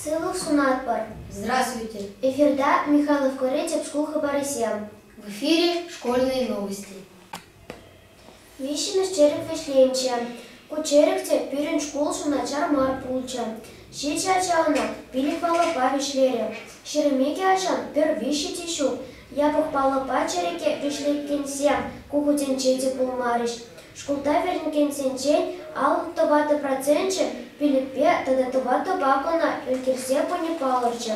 Сывлӑх сунатпӑр! Здравствуйте! Эфирта Михайлов горячек шкул хыпарӗсем. В эфире школьные новости. Виҫҫӗмӗш черет вӗҫленчӗ. Ку черет те пирӗн шкулшӑн начар мар пулчӗ. Ҫичӗ ача ӑна пилӗк-паллӑпа вӗҫлерӗ. Ҫӗрӗмекӗ ачан пӗр виҫҫи те ҫук. Япӑх паллӑпа черете вӗҫлекенсем ку хутӗнче те пулмарӗҫ. Шкулта вӗренекенсенчен аллӑ тӑватӑ проценчӗ пилӗкпе тата тӑватӑпа кӑна ӗлкӗрсе пыни палӑрчӗ.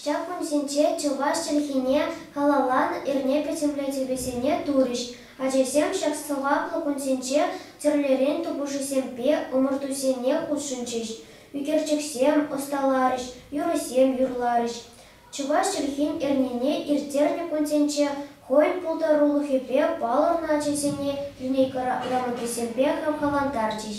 Ҫак кунсенче чӑваш чӗлхине халалланӑ эрне пӗтӗмлетӗвӗсене турӗҫ. Ачасем ҫак сӑваплӑ кунсенче тӗрлӗрен тупӑшусемпе ӑмӑртусене хутшӑнчӗҫ. ӳкерчӗксем ӑсталарӗҫ, юрӑсем юрларӗҫ. Чӑваш чӗлхин эрнине ирттернӗ кунсенче хӑйӗн пултарулӑхӗпе палӑрнӑ ачасене линейка грамотисемпе хавхалантарчӗҫ.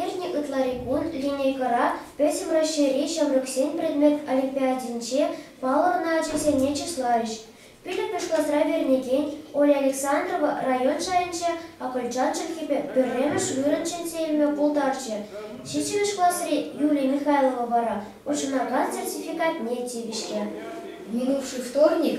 Иртнӗ ытларикун линейкӑра Пӗтӗм Раҫҫейри ҫамрӑксен предмет олимпиадинче палӑрнӑ ачасене чысларӗҫ. Пилӗкмӗш класра вӗренекен Оля Александрова район шайӗнче акӑлчан чӗлхипе пӗрремӗш вырӑн ҫӗнсе илме пултарчӗ. Ҫиччӗмӗш класри Юлия Михайлова вара хутшӑнакан сертификатне тивӗҫрӗ. Минувший вторник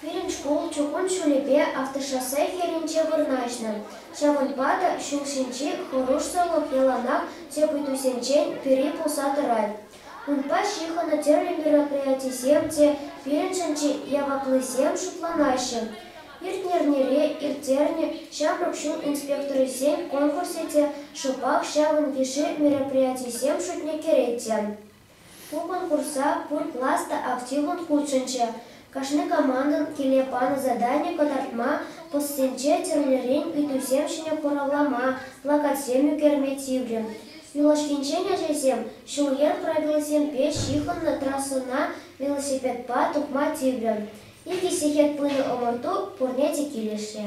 Пирӗн шкул чукун ҫулӗпе автошоссе хӗрринче вырнаҫнӑ, ҫавӑнпа та ҫул ҫинчи хӑрушсӑрлӑх яланах тӗп ыйтусенчен пӗри пулса тӑрать. Унпа ҫыхӑннӑ тӗрлӗ мероприятисем те пирӗншӗн чи яваплисем шутланаҫҫӗ. Иртнӗ эрнере ирттернӗ ҫамрӑк ҫул инспекторӗсен конкурсӗ те шӑпах ҫавӑн йышши мероприятисем шутне кӗрет те. Пупӑр курса пур класс та активлӑн хутшӑнчӗ. Кашни командӑн киле панӑ задани кӑтартма, постсенче тӗрлӗрен ыйтусем ҫине хуравлама, плакатсем ӳкерме тиврӗ. Юлашкинчен ачасем ҫул-йӗр правилисемпе ҫыхӑннӑ трассӑна велосипедпа тухма тиврӗ. Икӗ сехет пынӑ ӑмӑрту пурне те килӗшрӗ.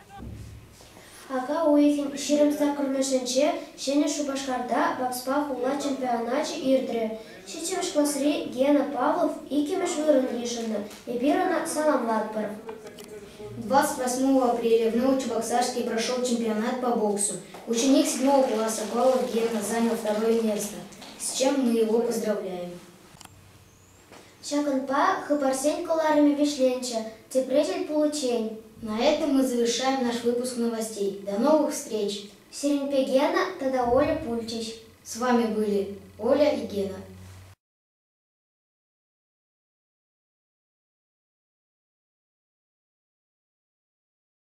Ака уйӑхӗн ҫирӗм саккӑрмӗшӗнче Ҫӗнӗ Шупашкарта бокспа хула чемпионачӗ иртрӗ. Ҫиччӗмӗш класри Гена Павлов иккӗмӗш вырӑн йышӑннӑ. Эпир ӑна саламлатпӑр. 28 апреля в Новочебоксарске прошел чемпионат по боксу. Ученик седьмого класса Павлов Гена занял второе место, с чем мы его поздравляем. Ҫакӑнпа хыпарсен кӑларӑмӗ вӗҫленчӗ, тепре тӗл пуличчен. На этом мы завершаем наш выпуск новостей. До новых встреч! Сиреньпе Гена тата Оля пулчӗҫ. С вами были Оля и Гена.